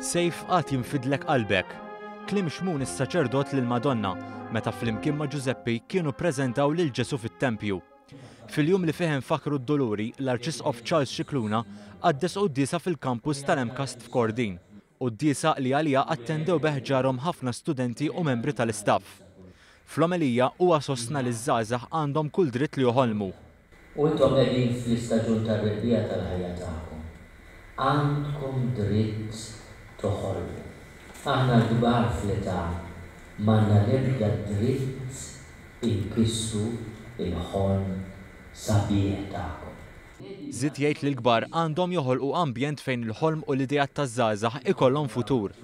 Sejf għad jinfidlek qalbek. Klim xmun is-saċerdot lil Madonna meta flimkien ma' Ġużeppi kienu ppreżentaw lil Ġesu fit-tempju. Fil-jum li fih infakkru d-duluri, l-Arċisqof Charles Scicluna qaddes quddiesa fil-Kampus tal-MCAST f'Kordin, quddiesa li għaliha attendew bi ħġarhom ħafna studenti u membri tal-istaff. Fl-omelija, huwa sostna li ż-żgħażagħ għandhom kull dritt li joħolmu. U intom qegħdin fl-istaġun tar-rebbiegħa tal-ħajja tagħkom. Għandkom dritt toħolmu. Aħna l-kbar fl-età m'għandna l-ebda dritt Inkissu l-ħolm sabiħ tagħkom. Żied jgħid li l-kbar għandhom joħolqu ambjent fejn il-ħolm u l-ideat taż-żgħażagħ ikollhom futur.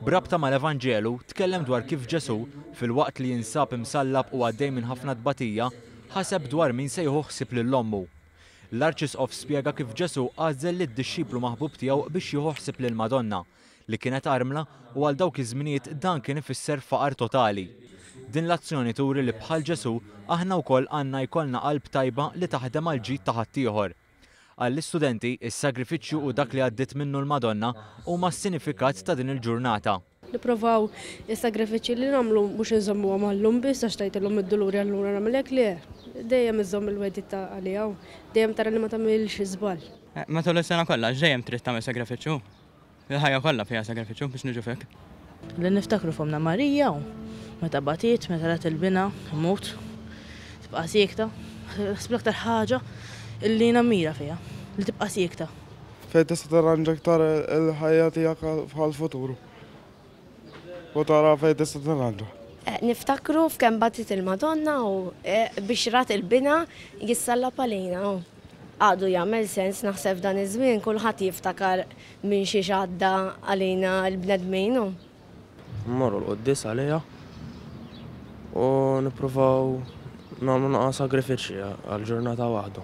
B'rabta mal-Evanġelu, tkellem dwar kif Ġesù, filwaqt li jinsab imsallab u għaddej minn ħafna tbatija, ħaseb dwar min se jieħu ħsieb lil ommu. L-Arċisqof spjega kif Ġesù għażel lid-dixxiplu maħbub tiegħu biex jieħu ħsieb lill-Madonna, li kienet armla u għal dawk iż-żminijiet dan kien ifisser faqar totali. Din l-azzjoni turi li bħal Ġesù aħna wkoll għandna jkollna qalb tajba li taħdem għall-ġid ta' ħaddieħor. Għall-istudenti, is-sagrifiċċju u dak li għaddiet minnu l-Madonna huma s-sinifikat ta' din il-ġurnata. Nipprovaw is-sagrifiċċji li nagħmlu mhux inżommuhom għall-lum biss għax tgħidilhom id-duluri allura nagħmel hekk, le, dejjem iżżomm il-wegħdiet ta' għaliha u dejjem tara li ma tagħmilx żball. Matul is-sena kollha, x'dejjem trid tagħmel sagrifiċċju? Il-ħajja kollha fiha sagrifiċċju biex niġu fik. Li niftakru f'Ommna Marija u meta batiet, meta rat il-binha imut, tibqa' siekta. Naħseb l-aktar ħaġa li nammira fiha, li tibqa' siekta. Fejn tista' tirranġa aktar il-ħajja tiegħek bħall-futur. U tara fejn tista' tingħadda. Niftakru f'kemm bagħtiet il-Madonna u bixrat il-binha jissallab għalina u. Għadu jagħmel sens naħseb f'dan iż-żmien kulħadd jiftakar minn xiex għadda għalina l-bnedmin u. Mmorru l-quddies għaliha u nippruvaw nagħmlu naqra sagrifiċċji għal ġurnata waħda.